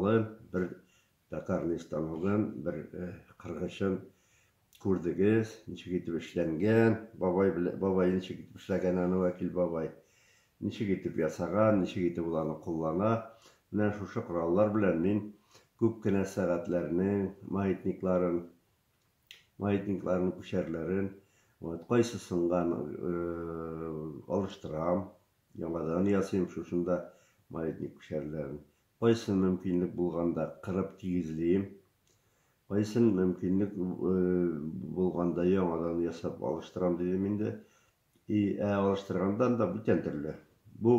Алы бер токарный станогын, бер кыргычын күрдегез, ничек итеп эшләнгән, бабай белән, бабай ничек итеп эшләгән аны Вәкил бабай, ничек итеп ясаган, ничек итеп ул аны куллана. Менә шушы кораллар белән мин күп кенә сәгатьләрнең маятникларын, маятникларның күчәрләрен, вот, кайсы сынган алыштырам, яңадан ясыйм шушында маятник күчәрләрен. Кайсын мөмкинлек булганда кырып тигезлием, кайсын мөмкинлек булганда яңадан ясап алыштырам, дидем инде. И, ә алыштырганда анда бүтән төрле. Бу,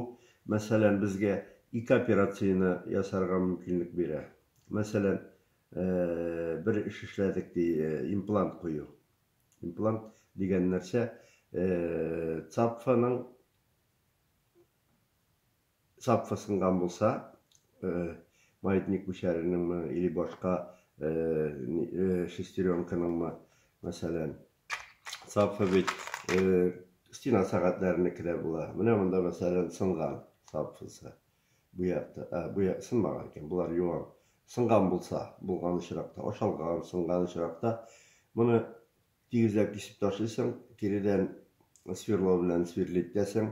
мәсәлән, безгә ике операцияне ясарга мөмкинлек бирә. Мәсәлән, бер эш эшләдек, ди, имплант кую. Имплант дигән нәрсә, цапфаның Сапфа сынган булса, маятник мишәренеңме или башка шестеренканыңмы, мәсәлән. Сапфа бит стена сәгатьләренеке дә була. Менә монда, мәсәлән, сынган сапфасы. Бу якта, ә, бу як сынмаган икән, булар юан. Сынган булса, булган очракта, ашалган, сынган очракта, моны Тигезләп кисеп ташлыйсың, киредән сверло белән сверлить итәсең.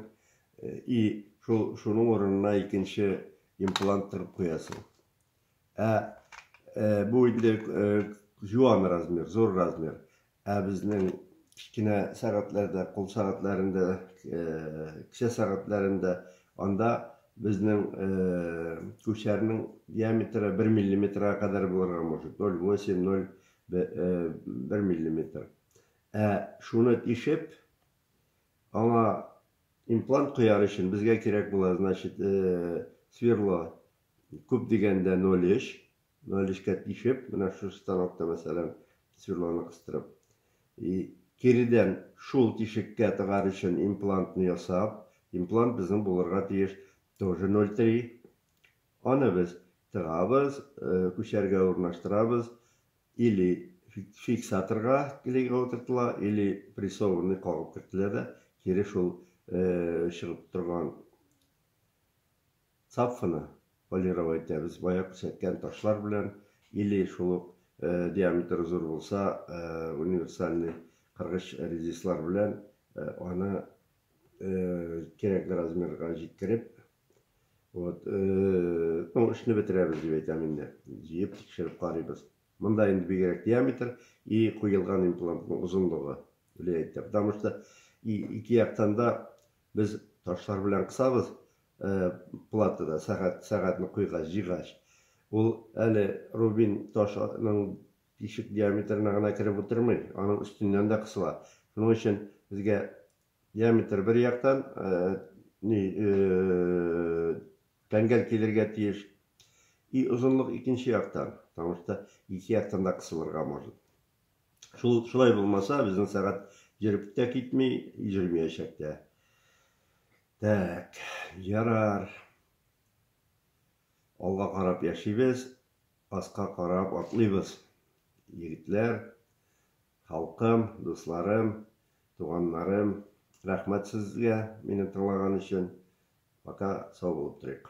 И шул шуның урынына икенче имплант тыгып куясың. Ә бу инде җуан размер, зур размер. Ә безнең кечкенә сәгатьләрдә, кул сәгатьләрендә, кесә сәгатьләрендә анда безнең күчәрнең диаметры 1 миллиметрга кадәр булырга мөмкин. 0,8, Бер миллиметр. Ә шуны тишеп, аңа имплант куяр өчен безгә кирәк була, значит, сверло күп дигәндә 0,3. 0,3кә тишеп, менә шушы станокта, мәсәлән, сверлоны кыстырып. И киредән шул тишеккә тыгар өчен имплантны ясап, имплант безнең булырга тиеш тоже 0,3. Аны без тыгабыз, күчәргә урнаштырабыз, или фиксаторга клейга утыртыла, или прессованный кагып кертелә дә, кире шул чыгып торган цапфаны полировать итәбез, бая күрсәткән ташлар белән, или шул ук диаметры зур булса, универсальный кыргыч резислар белән аны кирәкле размерга җиткереп, Вот, э, ну, эшне бетерәбез дип әйтәм инде. Җыеп тикшереп карыйбыз. Монда инде бигрәк диаметр и куелган имплантның озынлыгы влияет итә. Потому что ике яктан да без ташлар белән кысабыз, э, платада сәгать сәгатьне куйгач, җигач. Ул әле рубин ташның тишек диаметрына гына кереп утырмый, аның өстеннән дә кысыла. Шуның өчен безгә Диаметр бер яктан ни тәңгәл килергә тиеш. И озынлык икенче яктан, потому что ике яктан да кысылырга может. Шул шулай булмаса, безнең сәгать йөреп тә китми, йөрмиячәк тә. Так, ярар. Алга карап яшибез, аска карап атлыйбыз. Егетләр, Халкым, дусларым, туганнарым, рәхмәт сезгә мине тыңлаган өчен. Пока сау булып торыйк.